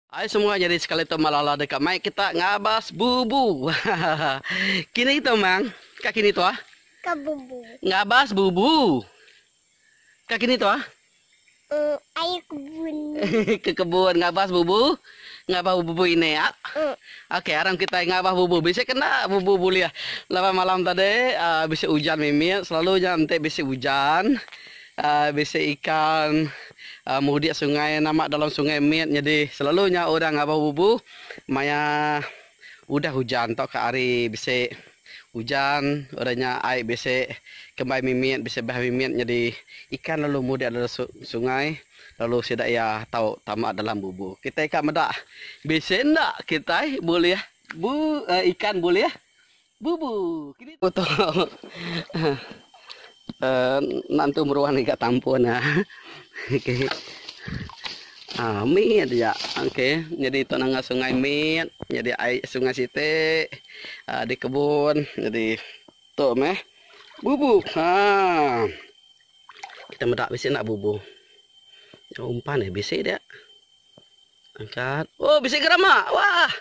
Ai semua nyadi sekali tu malah lah deka mai kita ngabas bubu. Hahaha. Kini tu mang. Ka kini tu ah. Ka bubu. Ngabas bubu. Ka kini tu ah. Uh, ai kebun. Ke kebun ngabas bubu. Ngabas bubu ini ah. Uh. Okey, aram kita ngabas bubu. Bisi kena bubu bulih. Laban malam tadi uh, bisi ujan mimit. Selalunya enti bisi ujan. Bisi ikan mudik sungai nama dalam sungai mit nyadi selalu nya orang ngabau bubu maya udah hujan tauka hari bisi hujan udah nya ai bisi kembai mimit bisi bah mimit nyadi ikan lalu mudik dalam sungai lalu sida iya tau tama dalam bubu. Kitai ka meda bisi enda kitai bulih ikan bulih. Bubu. Kini. Ku tolong. Enda entu meruan lagi ka tampun nya. Okey. Ah, mit ja. Okey, nyadi tu nanga sungai mit, nyadi ai sungai siti ah, di kebun. Nyadi tu meh. Bubu. Ha. Kita meda bisi enda bubu. Umpan eh bisi dia. Angkat. Oh, bisi gerama. Wah.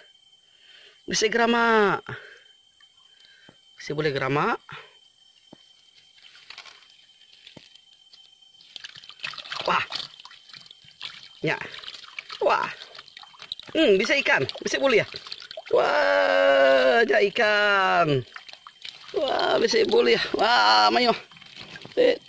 Bisi gerama. Bisi boleh gerama. Wah. Ya. Wah. Hmm, bisa ikan. Bisa boleh ya. Wah, ya ikan. Wah, bisa boleh. Wah, mayo. Eh.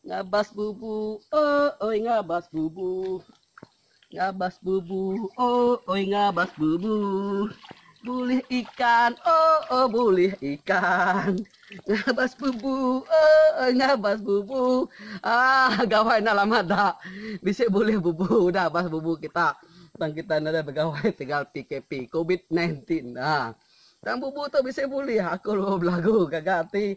Ngabas bubu ooy ngabas bubu Ngabas bubu ooy ngabas bubu Bulih ikan ooh bulih ikan Ngabas bubu ooy ngabas bubu Aah gawai enda lama da bisi bulih bubu udah abas bubu kita tang kita nadai begawai tegal PKP covid 19 aah tang bubu tu bisi bulih aku belagu gaga ati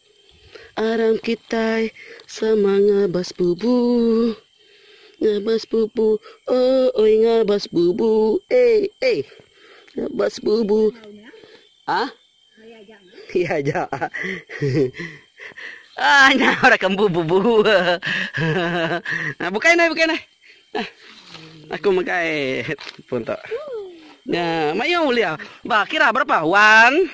Aram kitai sama ngabas bubu Ngabas bubu oh oi ngabas bubu eh eh Ngabas bubu Ah Iya aja Ah nya ora ke embu bubu Nah bukai neh bukai neh Nah aku megai pun tu Nya mayuh ulih Bah kira berapa One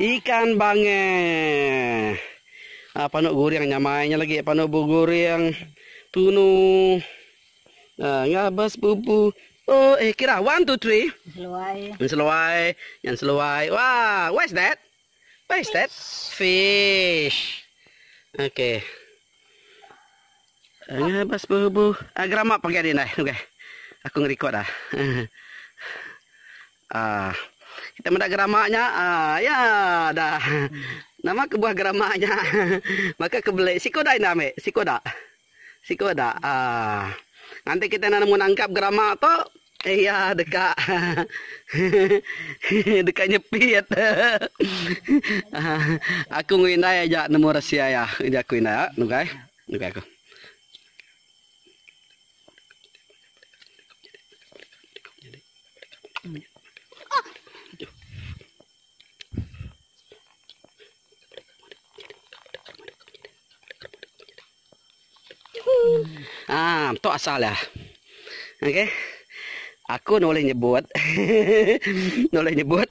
Ikan bangeh. A panu guring nyamai nya lagi panu bu guring tunu a ngabas bubu oh eh kira one two three seluai seluai nyan seluai wah what is that what is that fish okay ngabas bubu a gerama pagi adi indai okay aku nge record ah. Aah. Kita meda gerama nya. Aah. Ya dah. Nama kebuah gerama nya. Baka ke beli. Siku dak indah ambi? Siku dak? Siku dak? Aah. Nganti kita enda nemu nangkap gerama tu. Iya deka hehehe deka nyepit. Aah. Aku enggau indai aja nemu resi iya. Aku indai. Nugai. Nugai aku. Ah, tu asal dia. Okey. Aku nulih nyebut nulih nyebut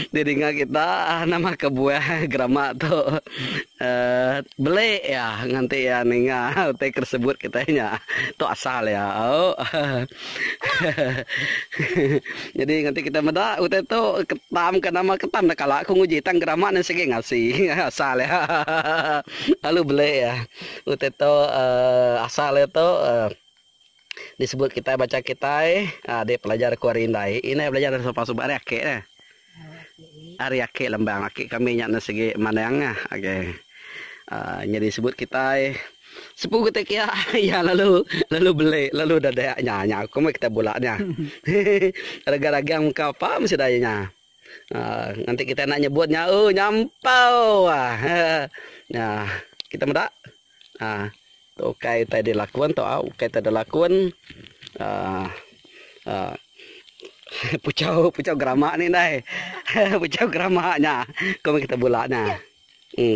di ninga kita nama kebuah gerama tu beli iya nganti iya ninga utai ke disebut kitai nya tu asal iya nyadi nganti kita meda utai tu ketam ka nama ketam enda kala ku nguji tang gerama nya sigi ngasi asal iya lalu beli iya utai tu asal iya tu. disebut kitai baca kitai um di pelajar ku ari indai indai belajar ari sopan suba ari aki dia ari aki lembang aki kami nya enda sigi manang nya okay um nyadi sebut kitai sepu kitai kia iya lalu lalu beli lalu dadak nya nya ku meh kitai bula nya hehe ragang ragang meka apa meh sida iya nya. Nya enti kita enda nyebut nya uh nyampau ah nya kita meda ah tu ukai utai dilakun tu au ukai utai dilakun ah ah puchau puchau grama ni ndai puchau grama nya ku meh kita bula nya uh.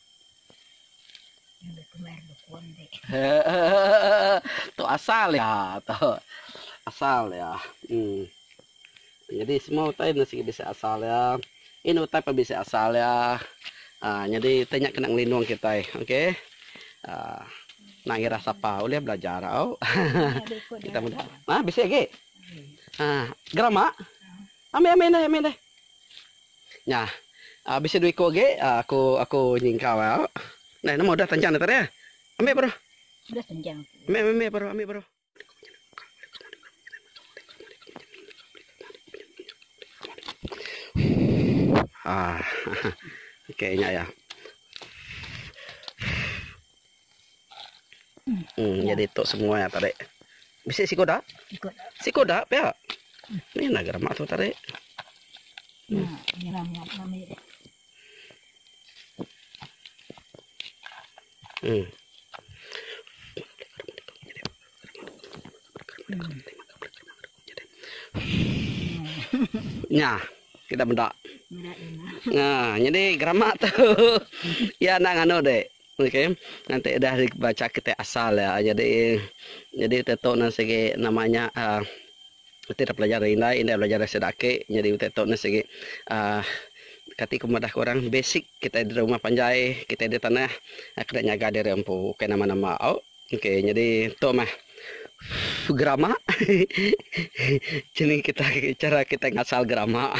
tu asal dia tu asal dia um jadi semua utai enda sigi bisi asal dia in utai pun bisi asal dia um nyadi utai nya kena ngelindung kitai okay um nang ira sapa ulih belajar au kita meda bisi agi um geram ba ambi ambi deh ambi deh. Nya. A bisi dua iku agi a aku aku nyingkau ia. Deh nama udah tanjang deh tadi. Ambi baru. Udah tanjang tu. Ambi ambi baru ambi baru. Haa. Okey nya ia. Uhh jadi tok semua tarik. Bisi siko dak? Siko dak pia. Mih naga remak tu tarik. Uhh. Nya kida meda. Nyadi gerama tu iya enda nganu dek ok nganti udah dibaca kiti asal iya nyadi nyadi utai tu enda sigi nama nya uhh enti dep belajar ari indai indai belajar ari sida aki nyadi utai tu enda sigi uhh kati ku madah ku orang basic kitai diri rumah panjai kitai diri tanah kena nyaga diri empu bukai nama nama ok. Ok nyadi tu mah gerama cini kita cara kita ngasal gerama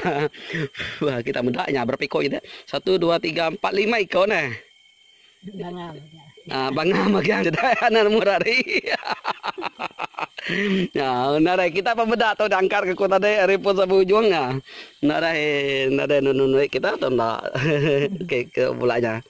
kita meda nya berapa iko ida 1 2 3 4 5 iko ne bangau ah bangau magang dah anak mu hari Ya, narai kita pa meda tu dangkar ke kota dai ari pos abu ujung ah. Narai narai nunu kita tu nda ke ke bulanya.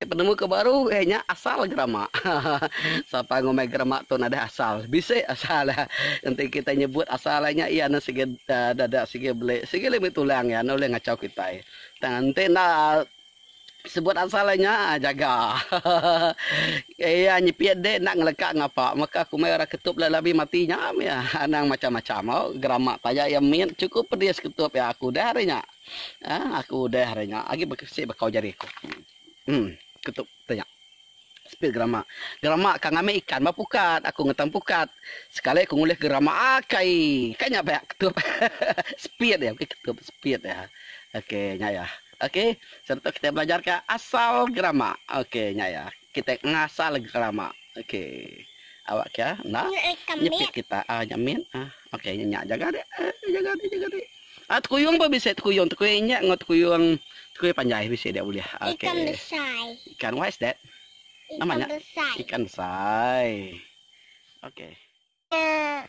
Penemu ke baru iya nya asal gerama. Sapa ngumbai gerama tu nadai asal. Bisi asal iya. Enti kitai nyebut asal iya nya iya enda sigi dada sigi beli sigi lagi meri tulang iya enda ulih ngachau kitai. Tang enti enda sebut asal iya nya jaga. Iya nyipi dik enda ngeleka ngapa. Maka aku meh orang ketup lalu abi mati nya meh iya. Anang macam-macam au gerama taja iya min chukup pedis ketup iya aku udah hari nya. Haa aku udah ari nya agi besi bekau jari aku. Emm ketup tanya. Sepil gerama. Gerama ka ngambi ikan ba pukat aku ngetam pukat. Sekali aku ngulih gerama akai ka nya ba ketup. Speed iya bukai ketup speed iya. Ok nya iya. Ok selalu tu kita belajar ka asal gerama. Ok nya iya. Kita ngasal gerama. Ok awak ka enda nyepit kita. Aa nyepit. Ok nya nya jaga dik. Jaga dik jaga dik. A Tekuyung pun bisi tekuyung tekui injak enggau tekuyung tekui panjai bisi dia ulih. Okay. Ikan besai. Ikan what is that? Nama nya? Ikan besai. Ikan besai. Okay. Nya.